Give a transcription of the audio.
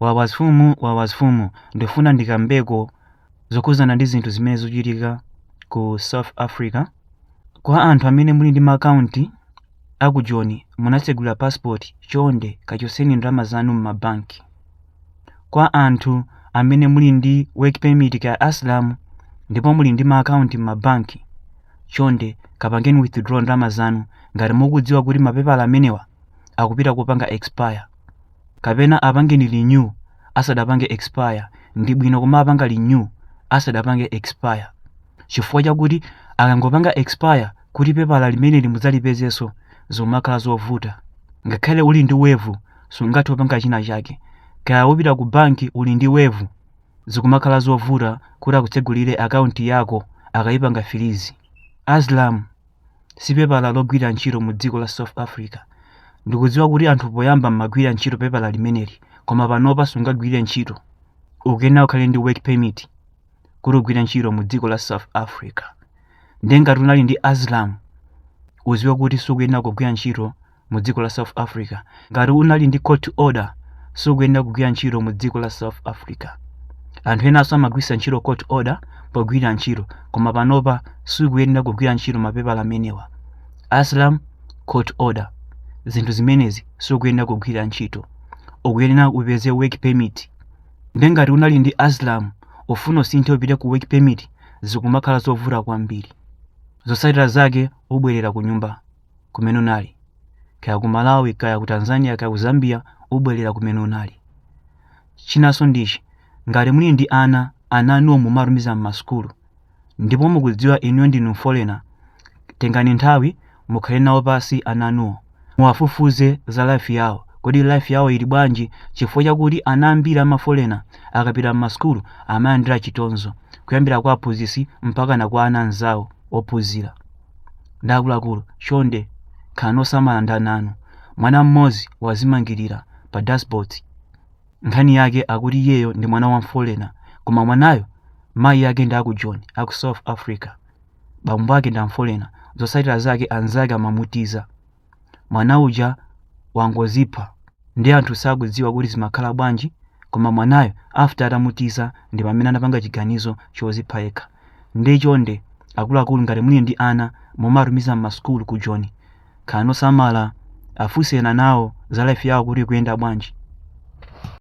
Wawasfumu Wawasfumu ndifuna ndikambeko zokhudzana ndi zinthu zimene zikuchitika ku South Africa kwa anthu amene muli ndi makaunti a ku Joni munatsegulira passport chonde kachotseni ndalama zanu m'mabanki kwa anthu amene muli ndi work permit kaya asylum ndipo muli ndi maakaunti m'mabanki chonde kapangeni withdraw ndalama zanu ngati mukudziwa kuti mapepala amenewa akupita kupanga expire kapena apangeni renew asadapange expire ndibwino kumapanga renew asadapange expire chifukwa chakuti akangopanga expire kuti pepala limeneli mudzalipezenso zikumakhala zovuta ngakhale uli ndi waiver sungathe kupanga china chake kaya upita ku banki uli ndi waiver zikumakhala zovuta kuti akutsegulire akaunti yako akayipanga freeze asylum si pepala logwira ntchito mu dziko la South Africa. Ndikudziwa kuti anthu poyamba mumagwirira ntchito pepala limeneli, koma panopa sungagwirire ntchito. Ukuyenera ukhale ndi work permit kuti ugwire ntchito mu dziko la South Africa. Ndiye ngati unali ndi asylum, udziwe kuti sukuyenera kugwira ntchito mu dziko la south africa ngati unali ndi court order sukuyenera kugwira ntchito mu dziko la south africa anthu enanso amagwiritsa ntchito court order pogwirira ntchito koma panopa sukuyenera kugwira ntchito mapepala amenewa asylum court order zinthu zimenezi sukuyenera kugwira ntchito ukuyenera upeze work permit nde ngati unali ndi asylum ufuna usinthe upite ku work permit zikumakhala zovuta kwambiri zotsatira zake ubwerera ku nyumba kumene unali kaya ku malawi kaya ku tanzania kaya ku zambia ubwerera kumene unali chinanso ndichi ngati muli ndi ana ana anuwo mumatumiza m'masukulu ndipo mukudziwa inuyo ndinu mfolena tengani nthawi mukhale nawo pansi ana anuwo muwafufuze za life yawo kodi life yawo ili bwanji chifukwa chakuti ana ambiri amafolena akapita m'masukulu amalandira chitonzo kuyambira kwa aphunzitsi mpaka na kwa ana anzawo ophunzira Nde akuluakulu chonde khalani osamala ndi ana anu. Mwana mmodzi wazimangirira pa dashboard. Nkhani yake akuti iyeyo ndi mwana wa mfolena koma mwanayo mayi ake ndi a ku Joni a ku South Africa. Bambo ake ndi amfolena. Zotsatira zake anzake amamutiza. mwana uja wangozipha nde anthu sakudziwa kuti zimakhala bwanji koma mwanayo after atamutiza ndi pamene anapanga chiganizo chozipha yekha nde chonde akuluakulu ngati muli ndi ana mumatumiza mmasukulu ku joni khalani osamala afunseni anawo za life yawo kuti ikuyenda bwanji